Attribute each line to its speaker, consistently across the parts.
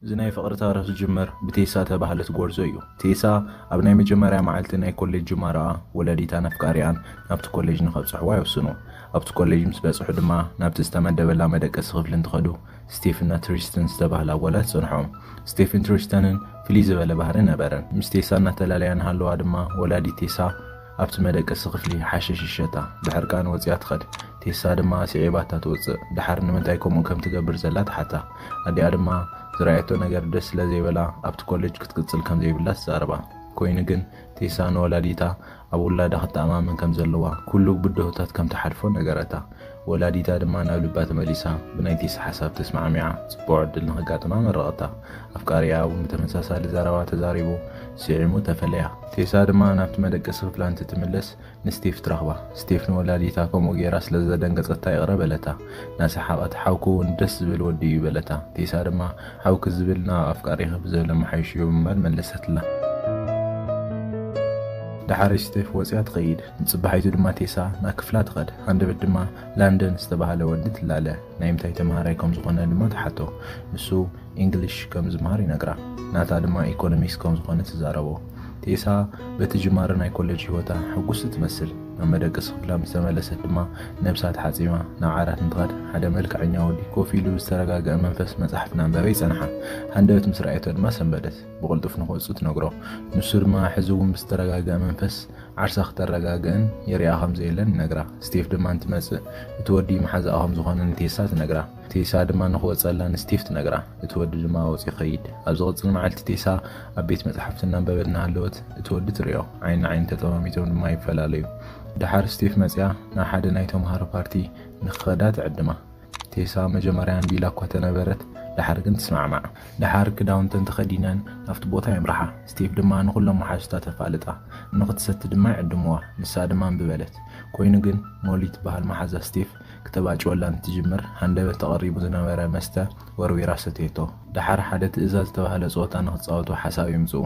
Speaker 1: እዚ ናይ ፍቕሪ ታርኽ ዝጅምር ብቴሳ ተባህለት ጎርዞ እዩ። ቴሳ ኣብ ናይ መጀመርያ መዓልቲ ናይ ኮሌጅ ጅማረኣ ወላዲታን ኣፍቃሪኣን ናብቲ ኮሌጅ ንኸብጽሕዋ ይውስኑ። ኣብቲ ኮሌጅ ምስ በጽሑ ድማ ናብቲ ዝተመደበላ መደቀሲ ክፍሊ እንትኸዱ ስቴፍና ትሪስትን ዝተባህላ ጓላ ትጸንሖም። ስቴፍን ትሪስተንን ፍልይ ዝበለ ባህሪ ነበረን። ምስ ቴሳ እናተላለያ እንሃለዋ ድማ ወላዲት ቴሳ፣ ኣብቲ መደቀሲ ክፍሊ ሓሽሽ ይሸጣ። ብሕርቃን ወጺኣ ትኸድ። ቴሳ ድማ ኣስዒባታ ትወጽእ። ደሓር ንምንታይ ከምኡ ከም ትገብር ዘላ ትሓታ። ኣዲኣ ድማ ዝረኣየቶ ነገር ደስ ስለ ዘይበላ ኣብቲ ኮለጅ ክትቅጽል ከም ዘይብላ ትዛረባ። ኮይኑ ግን ቴሳ ንወላዲታ ኣብ ውላዳ ክትተኣማመን ከም ዘለዋ፣ ኩሉ ብድሆታት ከም ትሓልፎ ነገረታ። ወላዲታ ድማ ናብ ልባ ተመሊሳ ብናይቲ ሓሳብ ተስማዕሚዓ ጽቡቕ ዕድል ንኸጋጥማ መረቐታ። ኣፍቃሪኣ እውን ብተመሳሳሊ ዘረባ ተዛሪቡ ስዒሙ ተፈለያ። ቴሳ ድማ ናብቲ መደቀሲ ክፍላ እንትትምለስ ንስቴፍ ትረኽባ። ስቴፍ ንወላዲታ ከምኡ ገይራ ስለ ዘደንገጸታ ይቕረ በለታ። እናሰሓቐት ሓውኪ እውን ደስ ዝብል ወዲ እዩ በለታ። ቴሳ ድማ ሓውኪ ዝብል ናብ ኣፍቃሪኺ ብዘሎ መሓይሹ እዩ ብምባል መለሰትላ። ደሓር ስቴፍ ወጺኣ ትኸይድ። ንጽባሒቱ ድማ ቴሳ ናብ ክፍላ ትኸድ፣ ሃንደበት ድማ ላንደን ዝተባህለ ወዲ ትላለ። ናይ ምታይ ተማሃራይ ከም ዝኾነ ድማ ትሓቶ። ንሱ ኢንግሊሽ ከም ዝመሃር ይነግራ። ናታ ድማ ኢኮኖሚክስ ከም ዝኾነ ትዛረቦ። ቴሳ በቲ ጅማረ ናይ ኮለጅ ህይወታ ሕጉስቲ ትመስል። ናብ መደቀሲ ክፍላ ምስ ተመለሰት ድማ ነብሳ ተሓጺማ ናብ ዓራት እንትኸድ ሓደ መልክዐኛ ወዲ ኮፍ ኢሉ ብዝተረጋገኣ መንፈስ መጻሕፍቲ እናንበበ ይጸንሓ። ሃንደበት ምስ ረኣየቶ ድማ ሰንበደት። ብቕልጡፍ ንክወጽእ ትነግሮ። ንሱ ድማ ሕዚ እውን ብዝተረጋግኣ መንፈስ ዓርሳ ክተረጋግእን የሪኣ ከም ዘየለን ይነግራ። ስቴፍ ድማ እንትመጽእ እቲ ወዲ መሓዛኣ ከም ዝኾነ ንቴሳ ትነግራ። ቴሳ ድማ ንክወጸላ ንስቴፍ ትነግራ። እቲ ወዲ ድማ ወጺኡ ይኸይድ። ኣብ ዝቕጽል መዓልቲ ቴሳ ኣብ ቤት መጻሕፍቲ እናንበበት እናሃለወት እቲ ወዲ ትሪኦ። ዓይኒ ንዓይኒ ተጠማሚቶም ድማ ይፈላለዩ። ደሓር ስቴፍ መጺኣ ናብ ሓደ ናይ ተመሃሮ ፓርቲ ንክኸዳ ትዕድማ። ቴሳ መጀመርያ ኣንቢላ እኳ ተነበረት፣ ደሓር ግን ትስማዕማዕ። ደሓር ክዳውንተን ተኸዲነን ናብቲ ቦታ የምርሓ። ስቴቭ ድማ ንኹሎም መሓዙታ ተፋልጣ። እንክትሰቲ ድማ ይዕድሙዋ። ንሳ ድማ እምቢ በለት። ኮይኑ ግን ሞሊ ትበሃል መሓዛ ስቴቭ ክተባጭወላ እንትጅምር ሃንደበት ተቐሪቡ ዝነበረ መስተ ወርዊራ ሰተየቶ። ደሓር ሓደ ትእዛዝ ዝተባህለ ጸወታ ንክጻወቱ ሓሳብ የምጽኡ።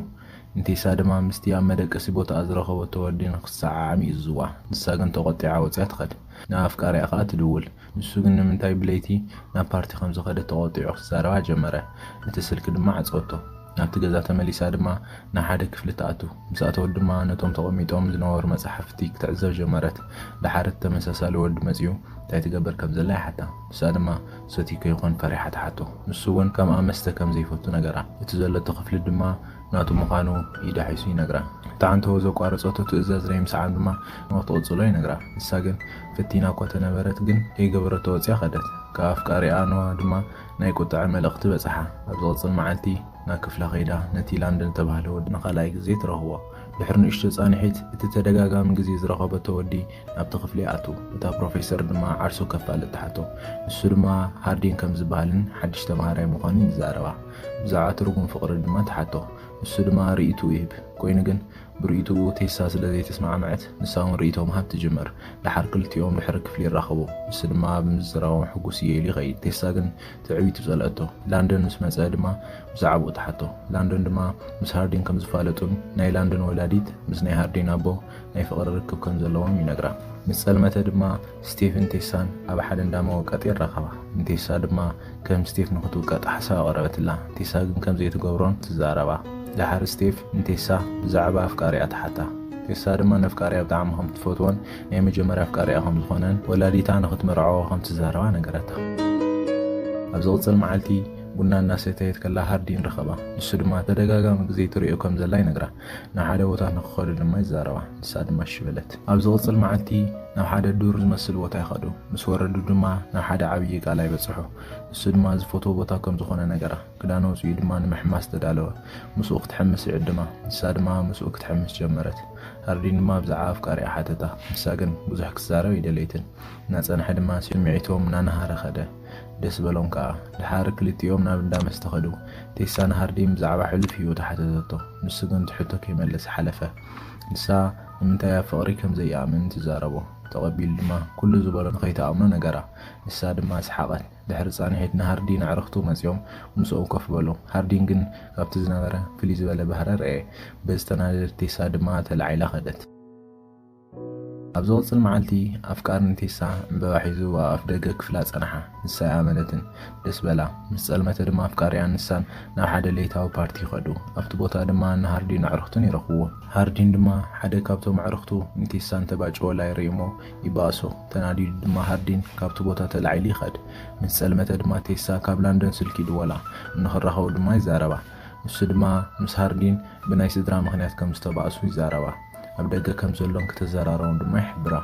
Speaker 1: ንቴሳ ድማ ምስቲ ኣብ መደቀሲ ቦታኣ ዝረኸበቶ ወዲ ንክትሰዓዓም ይእዝዙዋ። ንሳ ግን ተቖጢዓ ወጺኣ ትኸድ። ንኣፍቃሪኣ ከኣ ትድውል። ንሱ ግን ንምንታይ ብለይቲ ናብ ፓርቲ ከም ዝኸደት ተቖጢዑ ክዛረባ ጀመረ። እቲ ስልኪ ድማ ዓጸወቶ። ናብቲ ገዛ ተመሊሳ ድማ ናብ ሓደ ክፍሊ ትኣቱ። ምስ ኣተወት ድማ ነቶም ተቐሚጦም ዝነበሩ መጻሕፍቲ ክትዕዘብ ጀመረት። ደሓር እቲ ተመሳሳሊ ወዲ መጺኡ እንታይ ትገብር ከም ዘላ ይሓታ። ንሳ ድማ ሰትዩ ከይኮን ፈሪሓ ትሓቶ። ንሱ እውን ከምኣ መስተ ከም ዘይፈቱ ነገራ። እቲ ዘለቶ ክፍሊ ድማ ናቱ ምዃኑ ኢዳሒሱ ይነግራ። እቲ ዓንተቦ ዘቋረጸቶ ትእዛዝ ናይ ምስዓም ድማ ንኽትቕጽሎ ይነግራ። ንሳ ግን ፈቲና እኳ ተነበረት ግን ከይገበረቶ ወጽያ ከደት። ካብ ኣፍቃሪ ኣንዋ ድማ ናይ ቁጥዐ መልእኽቲ በጸሓ። ኣብ ዝቕጽል መዓልቲ ናብ ክፍላ ከይዳ ነቲ ላንደን ዝተባህለ ወዲ ንኻልኣይ ግዜ ትረኽቦ። ድሕሪ ንእሽቶ ጻንሒት እቲ ተደጋጋሚ ግዜ ዝረኸበቶ ወዲ ናብቲ ክፍሊ ይኣቱ። እታ ፕሮፌሰር ድማ ዓርሱ ከፋልጥ ትሓቶ። ንሱ ድማ ሃርዲን ከም ዝበሃልን ሓድሽ ተማሃራይ ምዃኑን ይዛረባ። ብዛዕባ ትርጉም ፍቕሪ ድማ ትሓቶ። ንሱ ድማ ርእይትኡ ይህብ። ኮይኑ ግን ብርእይቶኡ ቴሳ ስለ ዘይተስማዕመዐት፣ ንሳ እውን ርእይቶ ምሃብ ትጅምር። ደሓር ክልቲኦም ድሕሪ ክፍሊ ይራኸቡ፣ ንሱ ድማ ብምዝራቦም ሕጉስ እየ ኢሉ ይኸይድ። ቴሳ ግን ትዕቢቱ ጸልኣቶ። ላንደን ምስ መጸ ድማ ብዛዕባኡ ትሓቶ። ላንደን ድማ ምስ ሃርዲን ከም ዝፋለጡን ናይ ላንደን ወላዲት ምስ ናይ ሃርዲን ኣቦ ናይ ፍቕሪ ርክብ ከም ዘለዎም ይነግራ። ምስ ጸልመተ ድማ ስቴቭን ቴሳን ኣብ ሓደ እንዳ መወቀጢ ይራኸባ። ንቴሳ ድማ ከም ስቴፍ ንክትውቀጥ ሓሳብ ኣቕረበትላ፣ ቴሳ ግን ከም ዘይትገብሮን ትዛረባ። ደሓር ስቴፍ ንቴሳ ብዛዕባ ኣፍቃሪኣ ትሓታ። ቴሳ ድማ ነፍቃሪኣ ብጣዕሚ ከም ትፈትዎን ናይ መጀመርያ ኣፍቃሪኣ ከም ዝኾነን ወላዲታ ንክትምርዖ ከም ትዛረባ ነገረታ። ኣብ ዝቕጽል መዓልቲ ቡና እናሰተየት ከላ ሃርዲን ረኸባ፣ ንሱ ድማ ተደጋጋሚ ግዜ ትሪኦ ከም ዘላ ይነግራ። ንሓደ ቦታ ንክኸዱ ድማ ይዛረባ። ንሳ ድማ እሺ በለት። ኣብ ዝቕጽል መዓልቲ ናብ ሓደ ዱር ዝመስል ቦታ ይኸዱ። ምስ ወረዱ ድማ ናብ ሓደ ዓብዪ ቃላይ በጽሑ። ንሱ ድማ ዝፈትዎ ቦታ ከም ዝኾነ ነገራ። ክዳን ኣውጺኡ ድማ ንምሕማስ ተዳለወ። ምስኡ ክትሕምስ ይዕድማ። ንሳ ድማ ምስኡ ክትሕምስ ጀመረት። ሃርዲን ድማ ብዛዕባ ኣፍቃሪኣ ሓተታ። ንሳ ግን ብዙሕ ክትዛረብ ኣይደለየትን። እናጸንሐ ድማ ስምዒቶም እናነሃረ ከደ። ደስ በሎም ከኣ። ደሓር ክልቲኦም ናብ እንዳ መስተ ከዱ። ቴሳ ንሃርዲን ብዛዕባ ሕሉፍ ህይወቱ ሓተተቶ። ንሱ ግን እቲ ሕቶ ከይመለሰ ሓለፈ። ንሳ ንምንታይ ኣብ ፍቕሪ ከም ዘይኣምን ትዛረቦ። ተቐቢሉ ድማ ኩሉ ዝበሎ ንኸይትኣምኖ ነገራ። ንሳ ድማ ሰሓቐት። ድሕሪ ጻንሒት ንሃርዲን ኣዕርኽቱ መጺኦም ምስኡ ኮፍ በሉ። ሃርዲን ግን ካብቲ ዝነበረ ፍልይ ዝበለ ባህሪ ኣርኣየ። በዚ ተናደደት ቴሳ ድማ ተላዒላ ከደት። ኣብ ዝቕጽል መዓልቲ ኣፍቃር ንቴሳ ዕምበባ ሒዙ ኣብ ኣፍደገ ክፍላ ጸንሓ። ንሳ ኣይኣመነትን። ደስ በላ። ምስ ጸልመተ ድማ ኣፍቃሪኣን ንሳን ናብ ሓደ ለይታዊ ፓርቲ ከዱ። ኣብቲ ቦታ ድማ ንሃርዲን ኣዕሩኽቱን ይረኽብዎም። ሃርዲን ድማ ሓደ ካብቶም ኣዕሩኽቱ ንቴሳ እንተ ባጨወላ ይርኢ'ሞ ይበኣሶ። ተናዲዱ ድማ ሃርዲን ካብቲ ቦታ ተላዒሉ ይኸድ። ምስ ጸልመተ ድማ ቴሳ ካብ ላንዶን ስልኪ ይድወላ። እንክራኸቡ ድማ ይዛረባ። ንሱ ድማ ምስ ሃርዲን ብናይ ስድራ ምኽንያት ከም ዝተባእሱ ይዛረባ። ኣብ ደገ ከም ዘሎን ክተዘራረቦም ድማ ይሕብራ።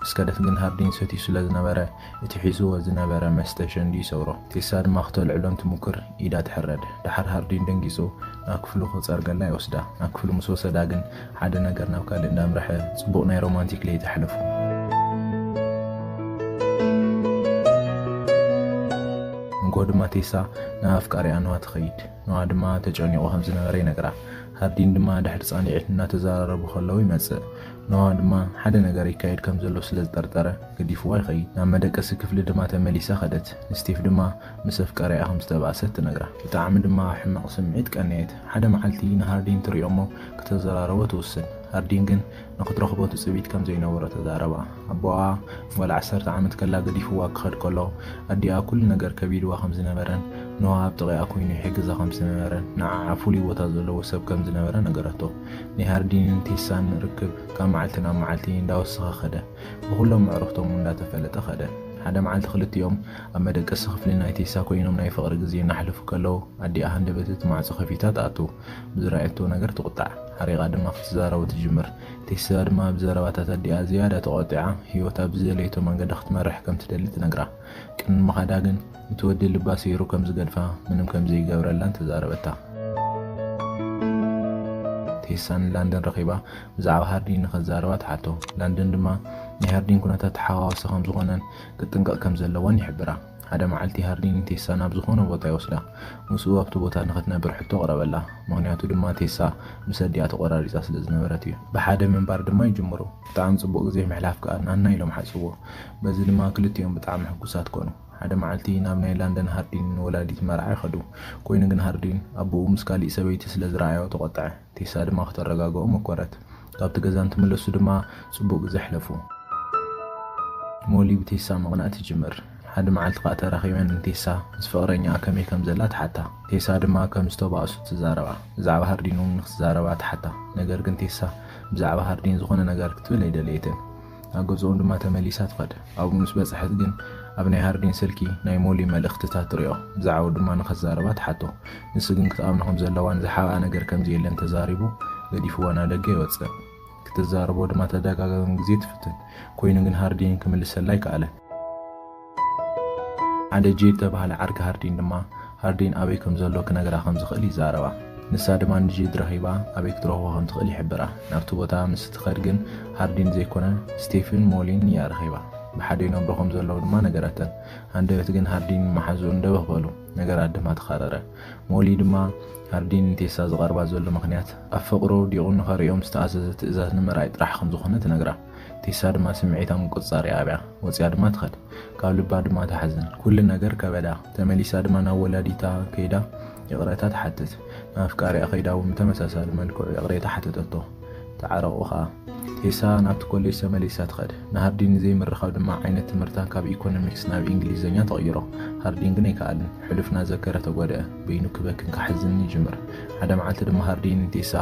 Speaker 1: ምስ ከደት ግን ሃርዲን ይሰትዩ ስለ ዝነበረ፣ እቲ ሒዝዎ ዝነበረ መስተ ሸንዲ ይሰብሮ። ቴሳ ድማ ክተልዕሎ እንትሙክር ኢዳ ትሕረድ። ደሓር ሃርዲን ደንጊጹ ናብ ክፍሉ ክጸርገላ ይወስዳ። ናብ ክፍሉ ምስ ወሰዳ ግን ሓደ ነገር ናብ ካልእ እንዳምርሐ ጽቡቕ ናይ ሮማንቲክ ለይቲ ኣሕለፉ። ንግሆ ድማ ቴሳ ናብ ኣፍቃሪኣ ኖዋ ትኸይድ። ኖኣ ድማ ተጨኒቑ ከም ዝነበረ ይነግራ። ሃርዲን ድማ ድሕሪ ጻኒዒት እናተዘራረቡ ከለዉ ይመጽእ። ኖኣ ድማ ሓደ ነገር ይካየድ ከም ዘሎ ስለ ዝጠርጠረ ገዲፍዋ ይኸይድ። ናብ መደቀሲ ክፍሊ ድማ ተመሊሳ ከደት። ንስቴፍ ድማ ምስ ኣፍቃሪኣ ከም ዝተባእሰት ትነግራ። ብጣዕሚ ድማ ኣብ ሕማቕ ስምዒት ቀነየት። ሓደ መዓልቲ ንሃርዲን ትሪኦ'ሞ ክተዘራርቦ ትውስን። ሃርዲን ግን ንኽትረኽቦ ትጽቢት ከም ዘይነበሮ ተዛረባ። ኣቦኣ ጓል ዓሰርተ ዓመት ከላ ገዲፍዋ ክኸድ ከሎ፣ ኣዲኣ ኩሉ ነገር ከቢድዋ ከም ዝነበረን ኖዋ ኣብ ጥቒኣ ኰይኑ ይሕግዛ ከም ዝነበረን ንዓዓ ፍሉይ ቦታ ዘለዎ ሰብ ከም ዝነበረ ነገረቶ። ናይ ሃርዲንን ቴሳን ርክብ ካብ መዓልቲ ናብ መዓልቲ እንዳወሰኸ ከደ። ብኹሎም ኣዕሩኽቶም እውን እንዳተፈለጠ ከደ። ሓደ መዓልቲ ክልቲኦም ኣብ መደቀሲ ክፍሊ ናይ ቴሳ ኰይኖም ናይ ፍቕሪ ግዜ እናሕለፉ ከለዉ፣ ኣዲኣ ሃንደበት እቲ ማዕጾ ከፊታ ትኣቱ። ብዝረኣየቶ ነገር ትቑጣዕ። ሓሪቓ ድማ ክትዛረቦ ትጅምር። ቴስላ ድማ ብዘረባታት ኣዲኣ ዝያዳ ተቖጢዓ ህይወታ ብዝደለየቶ መንገዲ ክትመርሕ ከም ትደሊ ትነግራ። ቅድሚ ምኻዳ ግን እቲ ወዲ ልባ ሰይሩ ከም ዝገድፋ ምንም ከም ዘይገብረላን ተዛረበታ። ቴሳ ንላንደን ረኺባ ብዛዕባ ሃርዲን ንኸዛረባ ትሓቶ። ላንደን ድማ ናይ ሃርዲን ኩነታት ተሓዋወሲ ከም ዝኾነን ክጥንቀቕ ከም ዘለዎን ይሕብራ። ሓደ መዓልቲ ሃርዲ ንቴሳ ናብ ዝዀነ ቦታ ይወስዳ። ምስኡ ኣብቲ ቦታ ንኽትነብር ሕቶ ኣቕረበላ፣ ምኽንያቱ ድማ ቴሳ ምስ ኣዲኣ ተቖራሪጻ ስለ ዝነበረት እዩ። ብሓደ ምንባር ድማ ይጅምሩ። ብጣዕሚ ጽቡቕ ግዜ ምሕላፍ ከኣ ናና ኢሎም ሓስብዎ። በዚ ድማ ክልቲኦም ብጣዕሚ ሕጉሳት ኰኑ። ሓደ መዓልቲ ናብ ናይ ላንደን ሃርዲን ንወላዲት መርዓ ይኸዱ። ኰይኑ ግን ሃርዲን ኣቦኡ ምስ ካሊእ ሰበይቲ ስለ ዝረኣዮ ተቖጥዐ። ቴሳ ድማ ክተረጋግኦ መኰረት። ካብቲ ገዛ እንትምለሱ ድማ ጽቡቕ ግዜ ኣሕለፉ። ሞሊ ብቴሳ ምቕናእ ትጅምር። ሓደ መዓልቲ ከኣ ተራኺበን ንቴሳ ምስ ፍቕረኛኣ ከመይ ከም ዘላ ትሓታ። ቴሳ ድማ ከም ዝተባእሱ ትዛረባ። ብዛዕባ ሃርዲን እውን ንክትዛረባ ትሓታ። ነገር ግን ቴሳ ብዛዕባ ሃርዲን ዝኾነ ነገር ክትብል ኣይደለየትን። ናብ ገዝኦም ድማ ተመሊሳ ትኸድ። ኣብኡ ምስ በጽሐት ግን ኣብ ናይ ሃርዲን ስልኪ ናይ ሞሊ መልእኽትታት ትሪኦ። ብዛዕባኡ ድማ ንኸትዛረባ ትሓቶ። ንሱ ግን ክትኣምኖ ከም ዘለዋን ዝሓብኣ ነገር ከም ዘየለን ተዛሪቡ ገዲፍዋ ናብ ደገ ይወጽእ። ክትዛረቦ ድማ ተደጋጋሚ ግዜ ትፍትን። ኮይኑ ግን ሃርዲን ክምልሰላ ኣይከኣለን። ሓደ ጄድ ዝተባህለ ዓርኪ ሃርዲን ድማ፣ ሃርዲን ኣበይ ከም ዘሎ ክነግራ ከም ዝኽእል ይዛረባ። ንሳ ድማ ንጄድ ረኺባ ኣበይ ክትረኽቦ ከም ትኽእል ይሕብራ። ናብቲ ቦታ ምስ እትኸድ ግን ሃርዲን ዘይኮነ ስቴፍን ሞሊን እያ ረኺባ። ብሓደ ይነብሩ ከም ዘለዉ ድማ ነገረተን። ሃንደበት ግን ሃርዲን መሓዝኡን ደበኽ በሉ። ነገራት ድማ ተኻረረ። ሞሊ ድማ ሃርዲን ንቴሳ ዝቐርባ ዘሎ ምኽንያት ኣብ ፍቕሪ ወዲቑ ንኸርእዮም ዝተኣዘዘ ትእዛዝ ንምርኣይ ጥራሕ ከም ዝኾነ ትነግራ። ቴሳ ድማ ስምዒታ ምቁጽጻር ይኣብያ ወጺኣ ድማ ትኸድ ካብ ልባ ድማ ትሓዝን ኩሉ ነገር ከበዳ ተመሊሳ ድማ ናብ ወላዲታ ከይዳ ይቕረታ ትሓትት ንኣፍቃሪኣ ከይዳ እውን ብተመሳሳሊ መልክዑ ይቕሬታ ሓተተቶ ተዓረቑ ከኣ ቴሳ ናብቲ ኮሌጅ ተመሊሳ ትኸድ ንሃርዲን ዘይምርኻብ ድማ ዓይነት ትምህርታ ካብ ኢኮኖሚክስ ናብ ኢንግሊዘኛ ተቕይሮ ሃርዲን ግን ኣይከኣልን ሕሉፍ ናዘከረ ተጎድአ በይኑ ክበክን ክሓዝንን ይጅምር ሓደ መዓልቲ ድማ ሃርዲን ንቴሳ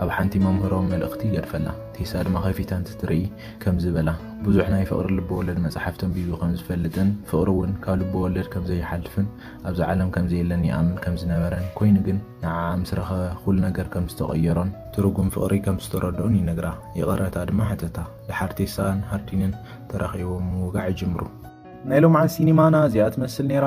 Speaker 1: ኣብ ሓንቲ መምህሮ መልእኽቲ ይገድፈላ። ቴሳ ድማ ከፊታ እንትትርኢ ከምዚ በላ፣ ብዙሕ ናይ ፍቕሪ ልበወለድ መጻሕፍቲ ኣንቢቡ ከም ዝፈልጥን ፍቕሪ እውን ካብ ልበወለድ ከም ዘይሓልፍን ኣብዛ ዓለም ከም ዘየለን ይኣምን ከም ዝነበረን ኮይኑ ግን ንዓኣ ምስ ረኸበ ኩሉ ነገር ከም ዝተቐየሮን ትርጉም ፍቕሪ ከም ዝተረድኦን ይነግራ። ይቕረታ ድማ ሓተታ። ደሓር ቴሳን ሃርዲንን ተራኺቦም ምውጋዕ ይጅምሩ። ናይ ሎምዓንቲ ሲኒማና እዚኣ ትመስል ነይራ።